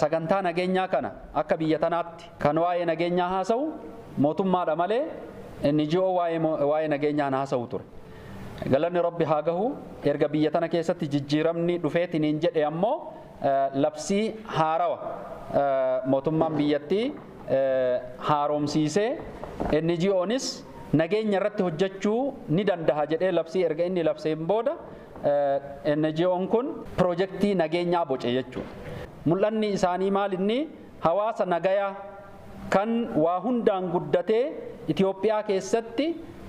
Sagantaa nageenyaa kana akka biyya tanaatti kan waa'ee nageenyaa haasawu mootummaa dha malee NGO waa'ee nageenyaa hin haasawu ture. Galanni Rabbi haa gahu erga biyya tana keessatti jijjiiramni dhufeetiniin jedhe ammoo Labsii haarawa mootummaan biyyattii haaromsiisee NGOnis nageenya irratti hojjechuu ni dandaha jedhee labsii erga inni labseen booda NGOn kun pirojektii nageenyaa boce jechuudha. Mul'anni isaanii maal inni? Hawaasa nagayaa kan waa hundaan guddatee Itoophiyaa keessatti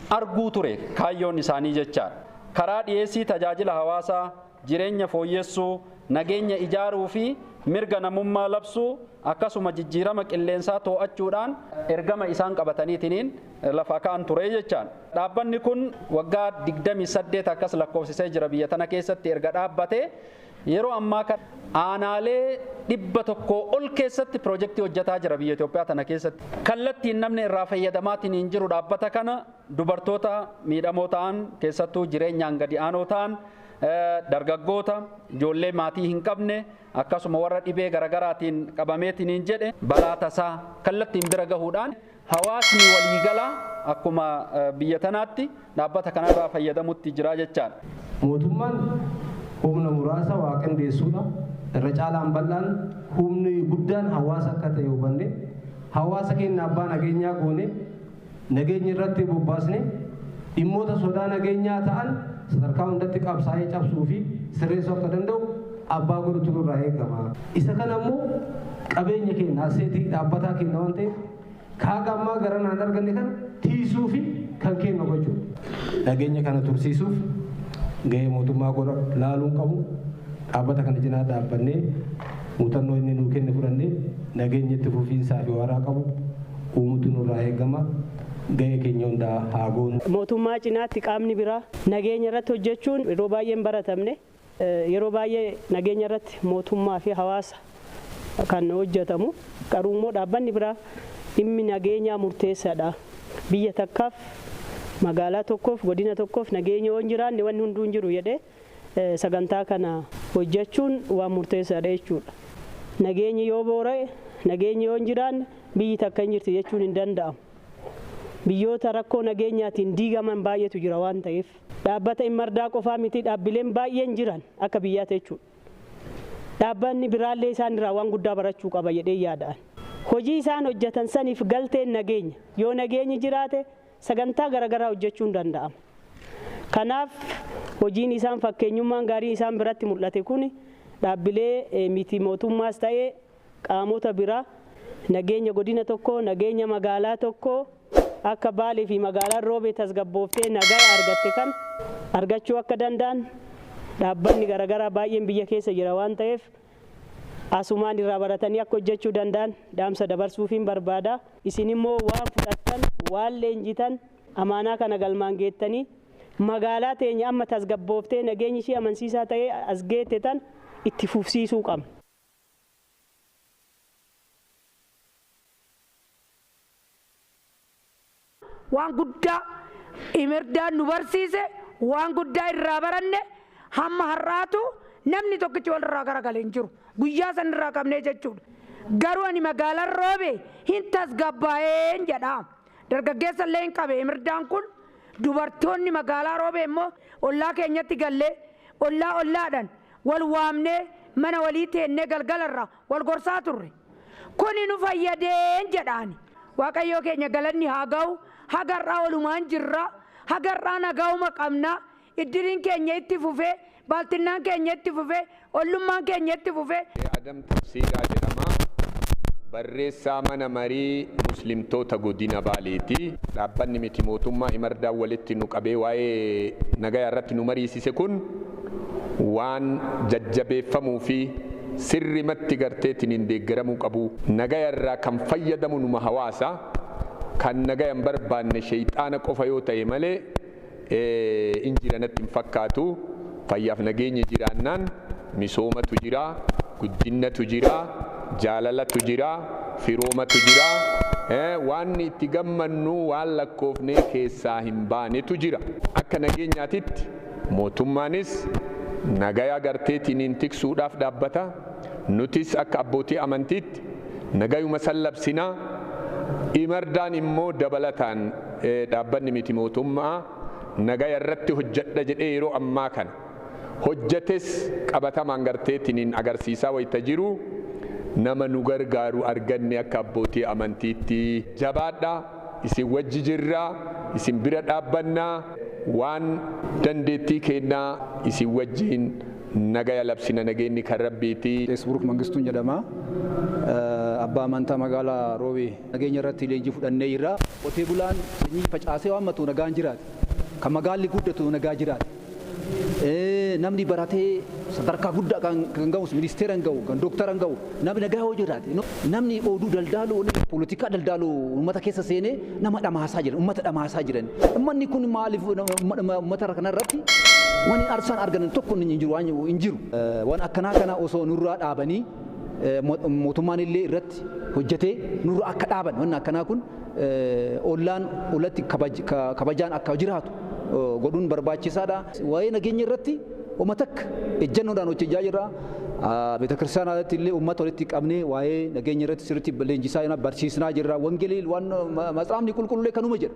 arguu ture kaayyoon isaanii jechaadha. Karaa dhiyeessii tajaajila hawaasaa, jireenya fooyyessuu, nageenya ijaaruu fi mirga namummaa labsuu akkasuma jijjiirama qilleensaa too'achuudhaan ergama isaan qabataniitiniin lafa ka'an ture jechaan. Dhaabbanni kun waggaa 28 akkas lakkoofsisee jira biyya tana keessatti erga dhaabbatee yeroo ammaa kana aanaalee 100 ol keessatti pirojektii hojjataa jira biyya Itoophiyaa tana keessatti. Kallattiin namni irraa fayyadamaatiniin jiru dhaabbata kana dubartoota miidhamoo ta'an keessattuu jireenyaan gadi aanoo ta'an dargaggoota, ijoollee maatii hin qabne, akkasuma warra dhibee garagaraatiin qabameetiniin jedhe balaa tasaa kallattiin bira gahuudhaan hawaasni waliigalaa akkuma biyya tanaatti dhaabbata kanarraa fayyadamutti jira jechaadha. Mootummaan humna muraasa waa qindeessuudha. Irra caalaan bal'aan humni guddaan hawaasa akka ta'e hubannee hawaasa keenya abbaa nageenyaa goonee, Nageenya irratti bobbaasne dhimmoota sodaa nageenyaa ta'an sadarkaa hundatti qabsaa'ee cabsuu fi sirreessuu akka danda'u abbaa godhutu nurraa eegama. Isa kana immoo qabeenya keenya, asseetii dhaabbataa keenya waan ta'eef ka haga ammaa garanaa hin arganne kana tiisuu fi kan keenya gochuudha. Nageenya kana tursiisuuf gahee mootummaa godha laaluun qabu dhaabbata kana cinaa dhaabbannee, Muuxannoo inni nuu kenne fudhannee nageenya itti fufiinsaa fi waaraa qabu uumuutu nurraa eegama. Gahee keenya hunda haa goonu. Mootummaa cinaatti qaamni biraa nageenya irratti hojjechuun yeroo baay'ee hin baratamne. Yeroo baay'ee nageenya irratti mootummaa fi hawaasa kan hojjetamu. Garuu immoo dhaabbanni biraa dhimmi nageenyaa murteessaadha. Biyya takkaaf, magaalaa tokkoof, godina tokkoof nageenya yoo hin jiraanne wanni hunduu hin jiru jedhee sagantaa kana hojjechuun waan murteessaadha jechuudha. Nageenyi yoo boora'e, nageenyi yoo hin jiraanne biyyi takka hin jirti jechuun hin danda'amu. Biyyoota rakkoo nageenyaatiin diigaman baay'eetu jira waan ta'eef. Dhaabbata Immardaa qofaa miti dhaabbileen baay'een jiran akka biyyaatti jechuudha. Dhaabbanni biraallee isaan irraa waan guddaa barachuu qaba jedheen yaada ani. Hojii isaan hojjetan saniif galteen nageenya. Yoo nageenyi jiraate Sagantaa garagaraa hojjechuun danda'ama. Kanaaf hojiin isaan fakkeenyummaan gaariin isaan biratti mul'ate kun dhaabbilee miti mootummaas ta'e qaamota biraa nageenya godina tokkoo, nageenya magaalaa tokkoo akka Baalee fi magaalaan Roobee tasgabbooftee nagaya argatte kana argachuu akka danda'an dhaabbanni garagaraa baay'een biyya keessa jira waan ta'eef, asumaan irraa baratanii akka hojjechuu danda'an dhaamsa dabarsuufiin barbaada. Isin immoo waan fudhattan, waan leenjitan, amaanaa kana galmaan geettanii magaalaa teenya amma tasgabbooftee nageenyi ishii amansiisaa ta'ee as geette tan itti fufsiisuu qabna. Waan guddaa Imerdaan nu barsiise, waan guddaa irraa baranne, hamma har'aatuu namni tokkichi wal irraa gara gale hin jiru. Guyyaa san irraa qabnee jechuu dha. Garuu ani magaalan roobe hin tasgabbaa'een jedha. Dargaggeessa illee hin qabe Imerdaan kun. Dubartoonni magaalaa roobee immoo ollaa keenyatti gallee, ollaa ollaadhan wal waamnee mana walii teennee galgala irraa wal gorsaa turre. Kuni nu fayyadeen jedha ani. Waaqayyoo keenya galanni haa gahu, haga har'aa walumaan jirra, haga har'aa nagaahuma qabna, iddiriin keenya itti fufe, baaltinnaan keenya itti fufe, ollummaan keenya itti fufe. Shee Adam Tafsiiraa jedhama. Barreessaa Mana Marii Muslimtoota Godina Baaleeti. Dhaabbanni miti mootummaa Imardaan walitti nu qabee waa'ee nagayaa irratti nu mariisise kun, waan jajjabeeffamuu fi sirrimatti garteetiniin deeggaramuu qabu. Nagaya irraa kan fayyadamu numa hawaasa, kan nagaya hin barbaanne sheyxaana qofa yoo tahe malee in jira natti hin fakkaatu. Fayyaaf nageenyi jiraannaan misoomatu jira, guddinnatu jira, jaalalatu jira, firoomatu jira, waanni itti gammannu waan lakkoofnee keessaa hin baanetu jira. Akka nageenyaatitti Mootummaanis nagaya garteetiiniin tiksuudhaaf dhaabbata, nutis akka abbootii amantiitti nagayuma san labsina, Imardaan immoo dabalataan dhaabbanni miti mootumma'aa nagaya irratti hojjadha jedhee yeroo ammaa kana hojjates qabatamaan garteetiiniin agarsiisaa wayta jiru nama nu gargaaru arganne akka abbootii amantiitti. Jabaadha! isin wajji jirra, isin bira dhaabbanna, waan dandeettii keenna isin wajjiin nagaya labsina, nageenni kan Rabbiiti. Buruk Mangistuun jedhama. Abbaa Amantaa Magaala Roobee. Nageenya irratti leenjii fudhannee jirra. Qotee bulaan sanyii facaasee waammatu nagaan jiraata. Kan magaalli guddatu nagaa jiraata. Namni baratee sadarkaa guddaa kan gahus ministeera hin gahu, kan doktara hin gahu, namni nagaa yoo jiraate, namni oduu daldaalu, poolitikaa daldaalu uummata keessa seenee nama dhamaasaa jiran, uummata dhamaasaa jiran. Uummanni kun maaliif uummata kanarratti wani arsaan argan tokko hin jiru waan hin jiru. Waan akkanaa kana osoo nurraa dhaabanii mootummaan illee irratti hojjetee nurra akka dhaaban wanni akkanaa kun ollaan olatti kabajaan akka jiraatu godhuun barbaachisaadha. Waa'ee nageenya irratti homa takka ejjannoodhaan hojjechaa jirra. Beetakiristaanaa irratti illee uummata walitti qabnee waa'ee nageenya irratti sirriitti leenjisaa jirra, barsiisnaa jirra. Wangelii waan matsaafni qulqullee kanuma jedha.